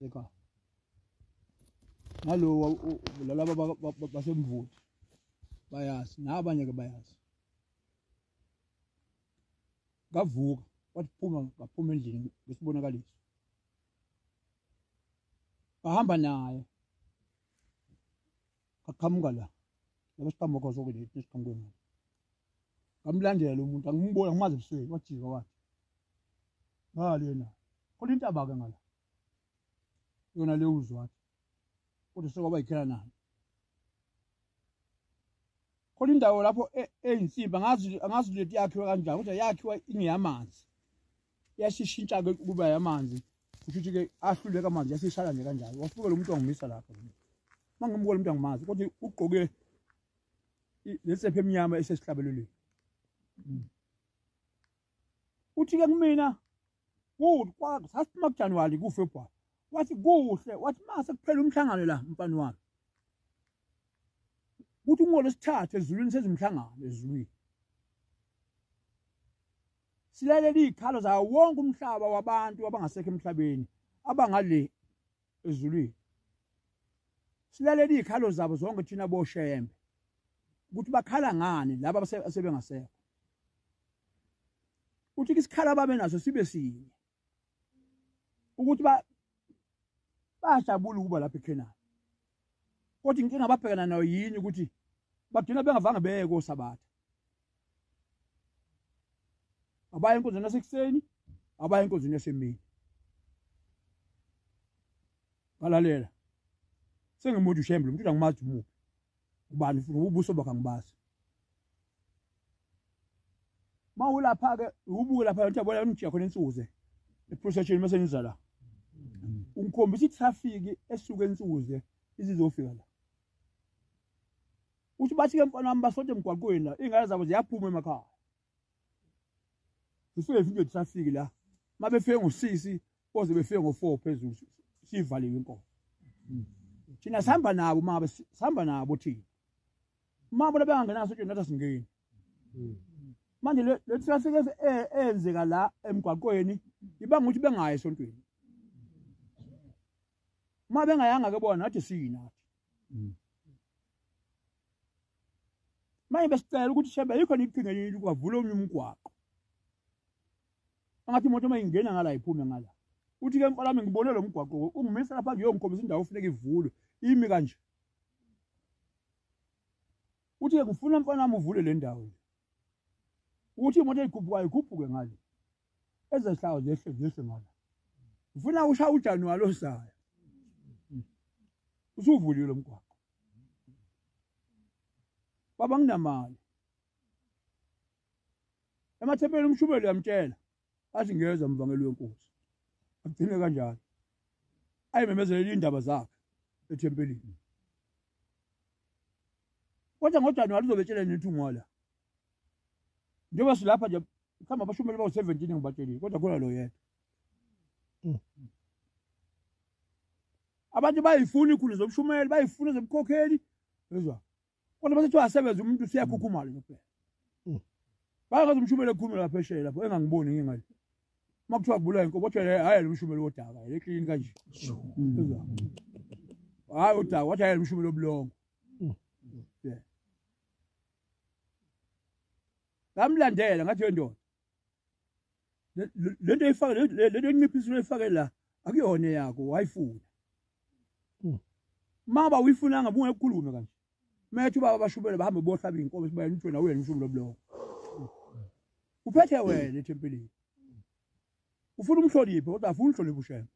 ekhaya nalowa lalaba basemvuti bayazi nabanye ke bayazi kavuka wathi phuma ngaphuma endlini besibonakaliso bahamba naye qaqhamuka la laba siqhamuka zonke le siqhamuke ngalo ngamlandela lo muntu angimboni angimazi ebusweni wajika wathi ngale yena khona intaba-ke ngala yona leyo uzwathi kodwa sekwaba yikhela nayo khona indawo lapho e, eyinsimba angazi leti yakhiwe kanjani kodwa yakhiwa ingeyamanzi yasishintsha-ke kuba yamanzi kusho ukuthi-ke ahluleka amanzi yasishala nje kanjalo wasuke lo muntu wangimisa lapho uma ngimbuka lo muntu angimazi kodwa ugqoke lesepha emnyama esesihlabelelweni mm. uthi-ke kumina kude sasiphuma kujanuwari kufebruwari wathi kuhle wathi ma sekuphela umhlangano la mfana wami kuthi ungolesithathu ezulwini sezimhlangano ezulwini silalele izikhalo zawo wonke umhlaba wabantu abangasekho emhlabeni abangale ezulwini silalele izikhalo zabo zonke thina boshembe ukuthi bakhala ngani laba asebengasekho uthi isikhala ababe naso sibe sinye ukuthi ba bajabula ukuba lapha eKhenani kodwa inkinga ababhekana nayo yini ukuthi bagcina bengavanga beye kosabatha abaya enkonzweni yasekuseni abaya enkonzweni yasemini ngalalela sengimuthi ushembe lo mntu uyangimazi umuphi ubani futhi ubuso bakhe angibazi mawulapha ke ubuke lapha uthi yabona umjika khona insuze eprocession mase niza la ungikhombisa itraffic esuke ensuze izizofika la uthi bathi ke mfana wami basote emgwaqweni la ingane zabo ziyaphuma emakhaya Sisuke izinto zisafiki la. Mabefike ngosisi boze befike ngo4 phezulu sivaliwe inkomo. Thina sihamba nabo mama sihamba nabo thina. Mama bona bengangenaso nje nathi singeni. Manje le traffic e-, eyenzeka la emgwaqweni ibanga ukuthi bengayi esontweni. Uma bengayanga ke bona nathi siyinathi. manje besicela ukuthi shembe yikho niqhinga yini kwavula omunye umgwaqo angathi imoto uma ingena ngala iphume ngala uthi ke mfana wami ngibone lo mgwaqo ungimisa lapha ngiyongikhombisa indawo ofuneka ivulwe imi kanje uthi ke ngifuna mfana wami uvule le ndawo uthi imoto eyikhuphukayo ikhuphuke ngale ezehlawo zehle zehle ngala ngifuna usha ujanuwari ozayo usuvulile lo mgwaqo baba nginamali emathempelini umshumeli uyamtshela athi ngiyeza mvangeli wenkosi agcine kanjalo ayimemezele indaba zakhe ethempelini kodwa ngojanuwari uzobetshela nethungwala njengoba silapha nje mhlawumbe abashumeli bawu-seventeen engibatshelile kodwa khona lo yedwa mm. abantu bayifuna ikhulu zobushumeli bayifuna zobukhokheli ezwa kodwa basethi wasebenza umuntu usiyakhukhumala nje kuphela mm. bayakwazi umshumeli ekhulume lapha eshele lapho engangiboni ngingayo uma kuthiwa kubulawa inkomo kodwa hhayi lo mshumeli wodaka le klini kanje hhayi udaka wathi hhayi lo mshumeli wobulongo ngamlandela ngathi yendoda lento eyifake lento enciphisa uyifake la akuyona yakho wayifuna hmm. maba uyifunanga bunge ukukhulume kanje methu baba bashubele bahambe bohlaba inkomo sibayena uthi wena uyena umshumi lobuloko uphethe wena ethempelini ufuna umhloniphe kodwa afuna umhloniphe ushembe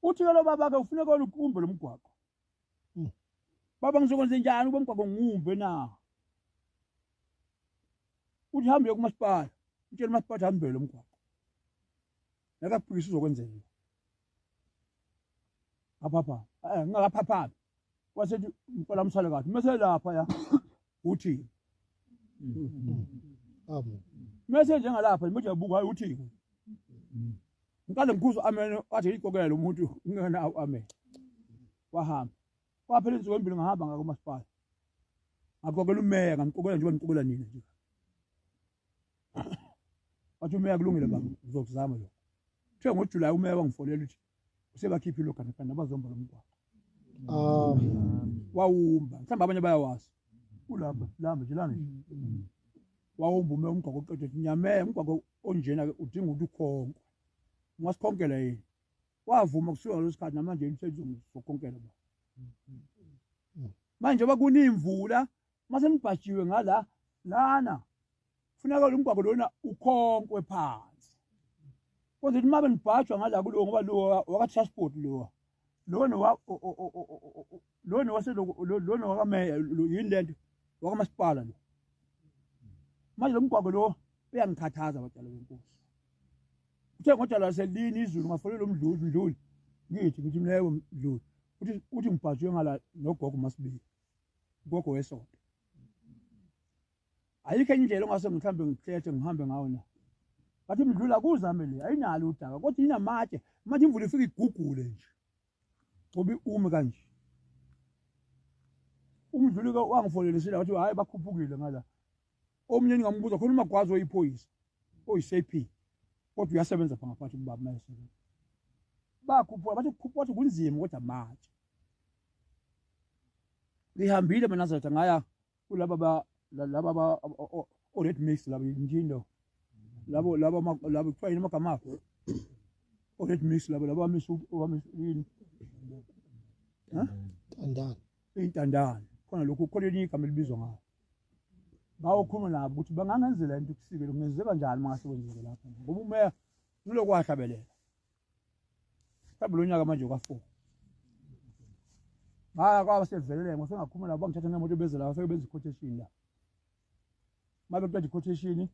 uthi ke lo babakhe ufuna kona ukumbe lomgwaqo Hmm. Baba ngizokwenza njani ube mgwaqo ngumbe na? Uthi hambe kumasipala. Utshela umasipala hambe lo mgwaqo. Nakaphikisa uzokwenzeni? Aphapha. Eh ngingakaphaphabi. Wasethi ngicela umsale kahle. Mese lapha ya. uthini amen mese njengalapha manje uyabuka hayi uthini ngikade ngikhuzo amen wathi ikokelo umuntu ngena amen wahamba kwaphela insuku embili ngahamba ngako masipala ngakokela umeya ngamkokela njengoba ngikokela nina nje wathi umeya kulungile baba ngizokuzama lokho kuthe ngojulayi umeya wangifonela uthi usebakhiphe iloganekana abazomba lo mgwaqo wawumba mhlawumbe abanye bayawazi kulapha lamba nje lana wawumba ume umgwaqo oqeda ukuthi nyamee umgwaqo onjena-ke udinga ukuthi ukhonkwe ungasikhonkela yini wavuma kusuka ngaleso sikhathi namanje umsebenzi uzokhonkela ba manje oba kunemvula uma senibhajiwe ngala lana funeka lo mgwaqo lona ukhonkwe phansi kodwa uma benibhajwa ngala kulowo ngoba lowo waka-transport lowa lona lona waselona wakameya yini le nto wakamasipala lo manje lo mgwaqo lo uyangikhathaza batshalo benkosi uthe ngodala laselini izulu ngafonela umdluli mdluli ngithi ngithi mleyo mdluli uthi uthi ngibhajwe ngala nogogo masibili gogo wesonto ayikho enye indlela ongase mhlawumbe ngikhethe ngihambe ngawo na bathi mdlula kuzame le ayinalo udaba kodwa inamatshe manje imvula ifike igugule nje ngoba iume kanje umdluli ke wangifolelisile wathi hhayi bakhuphukile ngala omunye ningambuza khona umagwazi oyiphoyisa oyi-sap kodwa uyasebenza pha ngaphakathi kubaba mayesebenza bakhuphuka bathi kukhuphuka wathi kunzima kodwa matshe ngihambile mina zotha ngaya kulaba ba laba ba o red mix laba njindo labo laba laba kuthiwa yini amagama akho o red mix laba laba bamisa bamisa yini intandane intandane khona lokhu khona elinye igama elibizwa ngayo bawokhuluma nabo ukuthi bangangenzela into kusike lokungenzeka njani mangasekwenzeke lapho ngoba umeya ngilokuwahlabelela mhlawumbe lo nyaka manje okafour ngaya kwaba sevelele ngosengakhuma labo bangithatha nemoto beze la bafike benza iquotation la mabe kuqeda iquotation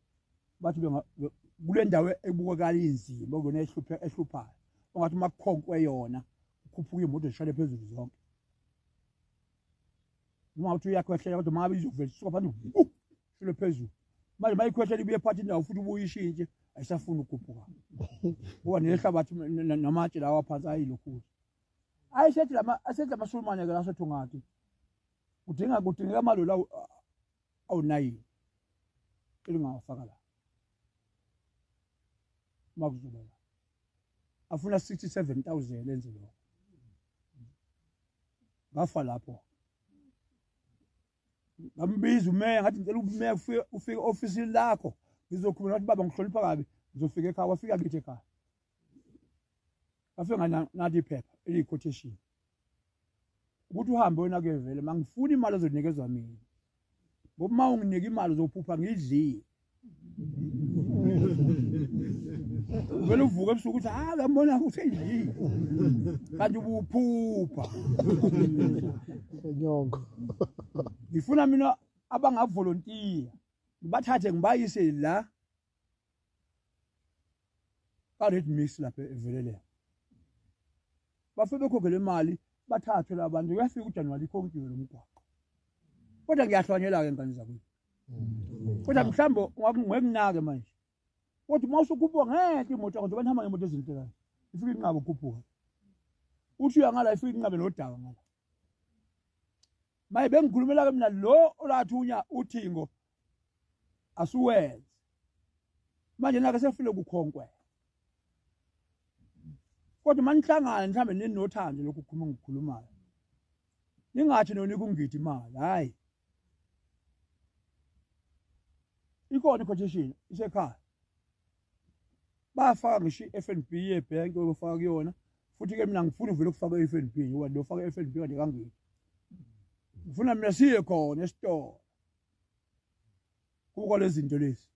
bathi kule ndawo ebukakala inzima okuyona ehluphayo ongathi uma kukhonkwe yona kukhuphuka iy'moto zishale phezulu zonke noma ukuthi uyakhwehlela kodwa uma ngabe izovela isuka phansi shilo phezulu manje mayikhwehla libuye phathi indawo futhi ubuyishintshe ayisafuni ukukhuphuka ngoba nehlabathi namatshe lawa phansi ayilokhulu ayisethi lama asethi amasulumane ke laso thungati kudinga kudingeka amalola awunayini elingawafaka la makuzoba la afuna 67000 enze lokho ngafa lapho ngambiza umeya ngathi ngicela umeya ufike ofisini lakho ngizokhuluma ngathi baba ngihlonipha kabi ngizofika ekhaya wafika kithi ekhaya wafika nganathi iphepha eliyi-quotation ukuthi uhambe wena kuyevele mangifuni imali ozonikezwa mina ngoba uma unginika imali uzophupha ngidlile vele uvuke ebusuku ukuthi hayi uyambona ukuthi yini kanti ubuphupha enyongo ngifuna mina abangavolontiya ngibathathe ngibayise la ka-red mix lapha eveleleyo bafike bekhokhele imali bathathwe labantu kuyafika ujanuwali ikhonkiwe lo mgwaqo kodwa ngiyahlwanyela-ke ngane zakwethu mm. kodwa mhlawumbe ngekunake manje kodwa uma usukhuphuka ngeke imoto yakho njengoba nihamba ngemoto ezintekayo ifike inqabe ukhuphuka uthi uyangala ifike inqabe nodaka ngala maye bengikhulumela-ke mina lo olathunya uthingo asuwenze manje nake sefile kukhonkwe kodwa manihlangane mhlawumbe ninothando lokhu khuluma ngikukhulumayo ningathi nona ikungidi imali hhayi ikhona i-quotation isekhaya bafaka ngisho i-f n b yebhenki obafaka kuyona futhi-ke mina ngifuna uvele ukufaka i-f n b ngoba ndiyofaka i-f n b kanti kangidi ngifuna mina siye khona esitolo kuko lezi zinto lezi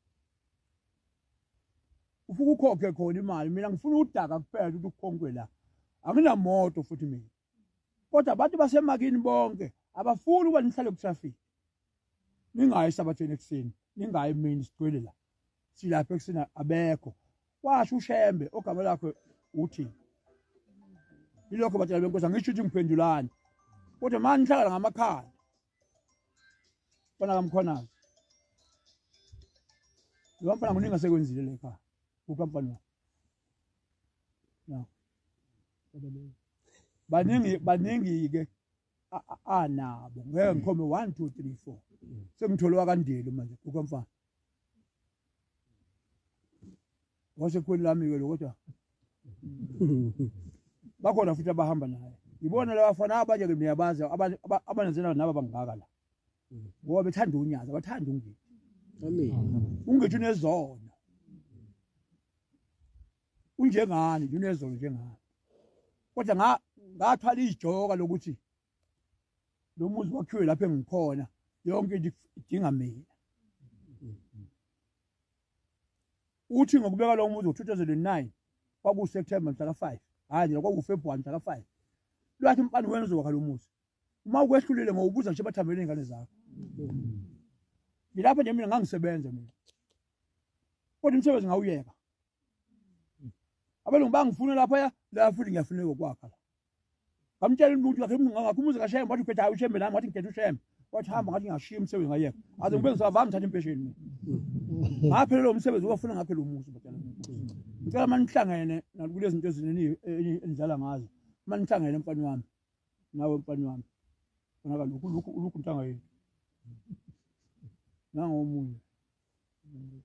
ufuke ukhokhe khona imali mina ngifuna udaka kuphela ukuthi ukhonkwe la anginamoto futhi mina kodwa abantu basemakini bonke abafuni ukuba nihlale kutraffic ningayi sabathweni ekuseni ningayi emini sigcwele la silapha ekuseni abekho washo ushembe ogama lakho uthi ilokho batshela benkosi angisho ukuthi ngiphendulani kodwa manje nihlala ngamakhaya fana kamkhonazi lo mfana kuningi asekwenzile le khaya kukamfana no baningi baningi-ke anabo ngeke ngikhombe one two three four sengithole wakandeli manje kukamfana wasekhweni lami-ke lo kodwa bakhona futhi abahamba naye ngibona labafana abanye-ke niyabazi abanenzela nabo bangaka la ngoba bethanda unyazi abathanda ungethi ungethi unezona unjengani unezolo njengani kodwa nga ngathwala ijoka lokuthi lo muzi wakhiwe lapho engikhona yonke into idinga mina uthi ngokubeka lo muzi ngo-2009 kwakuwuseptemba mhla ka-5 hhayi nje kwakuwufebruwari mhla ka-5 lwathi mfana wena uzowakha lo muzi uma ukwehlulile ngowubuza nje bathambele iy'ngane zakho ngilapho nje mina ngangisebenza mina kodwa umsebenzi ngawuyeka abelungu bangifuna lapha ya la futhi ngiyafuneka okwakha la ngamtshela umuntu wakhe ngakho umuzi kashembe wathi uphethe hayi ushembe nami wathi ngikhethe ushembe wathi hamba ngathi ngashiya umsebenzi ngayeka aze ngibe ngisavami ngithatha impesheni mina ngaphelele lo msebenzi uwafuna ngakhe lo muzi batshela ngicela uma nihlangene nakulezi zinto ezinini enidlala ngazo uma nihlangene mfana wami nawe mfana wami konaka lokhu lokhu lokhu ntanga yethu nangomunye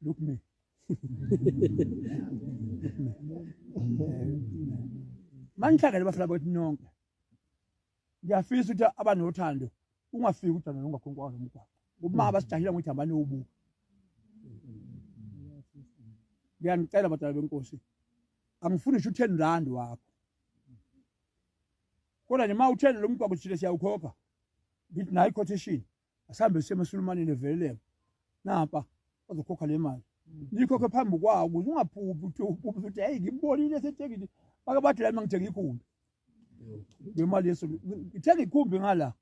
Look me. manihlangene bafela kwethu nonke ngiyafisa ukuthi abanothando ungafiki uthando nongakhonkwa nomgwaqo uma abasijahile ngokuthi hambani ubuka ngiyanicela badala benkosi angifuni ngisho u-ten rand wakho kodwa nima u-ten lo mgwaqo sithile siyawukhokha ngithi nayo i-quotation asihambe siye emasulumaneni eveleleka nampa ozokhokha le mali nikhokhe phambi kwawo ukuze ungaphuphi ukuthi uphuphe ukuthi hayi ngibonile sethekile bake bathi la mina ngithenga ikhumbi ngemali yeso ngithenga ikhumbi ngala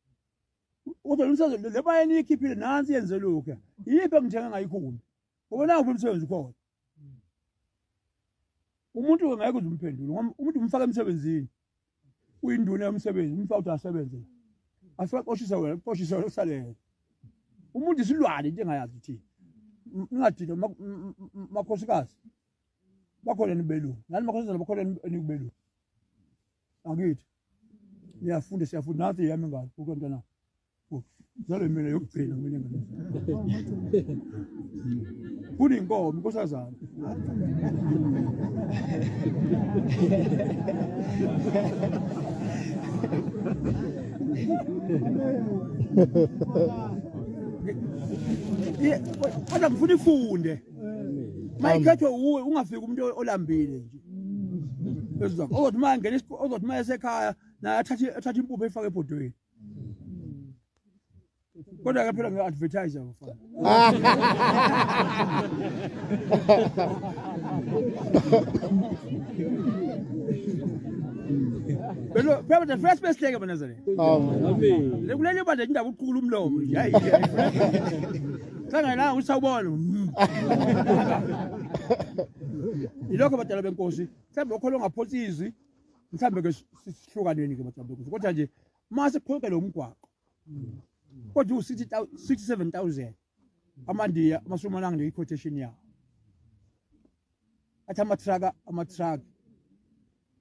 kodwa lomsebenzi le mali eniyikhiphile nansi yenze lokhu yiphi engithenga ngayo ikhumbi ngoba nangu umsebenzi ukhona Hmm. umuntu ngeke uze umphendule umuntu umfaka emsebenzini uyinduna yomsebenzi umfaka ukuthi asebenze asibaqoshisa wena kuqoshisa wena kusalele umuntu isilwane into engayazi ukuthi ningadina makhosikazi bakhona nibelungu nani makhosikazi bakhona nikubelungu angithi niyafunda siyafunda nansi yami ngalo ukwentana zale mina yokugcina mina kunenkomo inkosazana kodwa ngifuna ifunde mayikhethwe uwe ungafiki umuntu olambile nje ezothi uma ngena ozothi uma esekhaya naye athathe impupho efake ebhodweni kodwa ke phela ngi-advertise mfana Belo, phela the first best thing abana zale. Le kulele bande indaba uqhukula umlomo nje. Hayi. Sangayilanga usawubona. Ilokho badala benkosi. Mhlawumbe lokho longaphonsi izwi mhlawumbe ke sihlukaneni ke majabukuzo kodwa nje uma siqhokele umgwaqo kodwa u-67 000 amandiya amashumi anange neyi-quotation yawo athi amatraka amatraka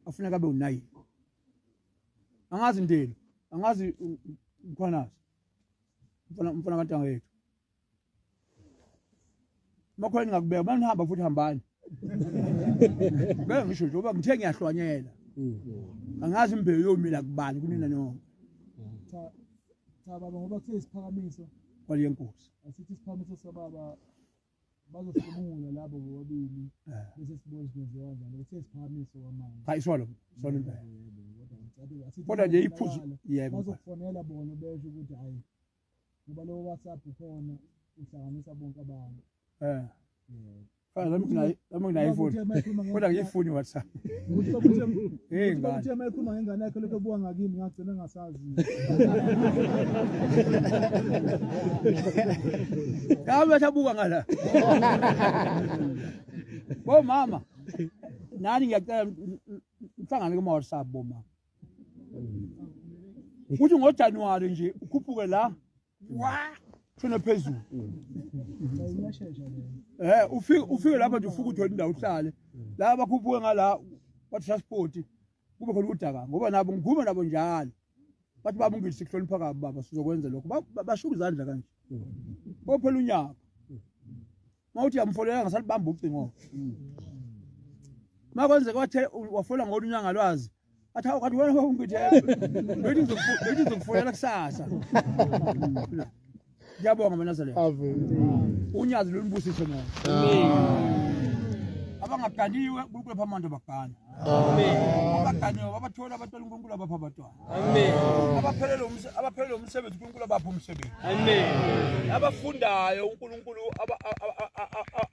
afuneka abe unayi angazi ndeni angazi mkhwanazi mfana mfana kantanga yethu Makho ngingakubeka banihamba futhi hambani. Bese ngisho nje uba ngithe ngiyahlwanyela. Mm. Angazi imbewu yomila kubani kunina nonke. Cha cha baba ngoba kuthe isiphakamiso kwale nkosi. Asithi isiphakamiso sababa bazohlomula labo bobabili eh. bese sibona sizenziwa njani ukuthi siphakamiso kwamanje hayi swalo swalo impela kodwa nje iphuzu yebo bazofonela bona besho ukuthi hayi ngoba lowo WhatsApp ukhona uhlanganisa bonke abantu eh Fana nami nginayo nami nginayo ifoni. Kodwa ngiyifuni WhatsApp. Ukuthi babuthi hey ngani. Ukuthi mayikhuluma ngengane yakhe lokho buka ngakimi ngagcina ngasazi. Kama thabuka ngala. Bo mama. Nani ngiyacela mhlangane kuma WhatsApp bo mama. ukuthi ngojanuwari nje ukhuphuke la wa shona phezulu eh ufike ufike lapha nje ufuke uthole indawo uhlale la bakhuphuke ngala kwa transport kube khona udaka ngoba nabo ngikhuma nabo njalo bathi baba ungisi kuhlonipha kabi baba sizokwenza lokho bashuka izandla kanje bophela unyaka mawuthi yamfolela ngasalibamba ucingo makwenze kwathe wafola ngolu nyanga lwazi athi awu kanti wena ungibitheke bethi ngizokufolela kusasa ngiyabonga manazalelo unyazi lolubusise mona abangaganiwe unkulunkulu apha amandla bagane abaganiwe babathola abathola unkulunkulu abapha abatwana Amen. Abaphelele umsebenzi, abaphelele umsebenzi uNkulunkulu abaphe umsebenzi. Amen. Abafundayo uNkulunkulu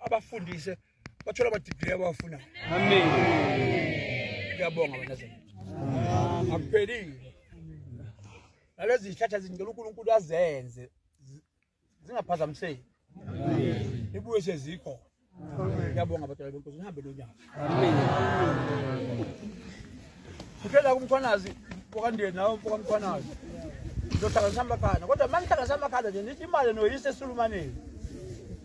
abafundise bathola ama degree abawafuna. Amen. Ngiyabonga wena Zulu. Akuphelile. Nalezi zihlahla zingicela uNkulunkulu azenze zingaphazamiseki ibuye sezikho ngiyabonga abadala benkosi nihambe lo nyaka ukhela kumkhwanazi wakandeni nawo mfokamkhwanazi ndohlanganisa amakhanda kodwa uma ngihlanganisa amakhanda nje nithi imali noyise esulumaneni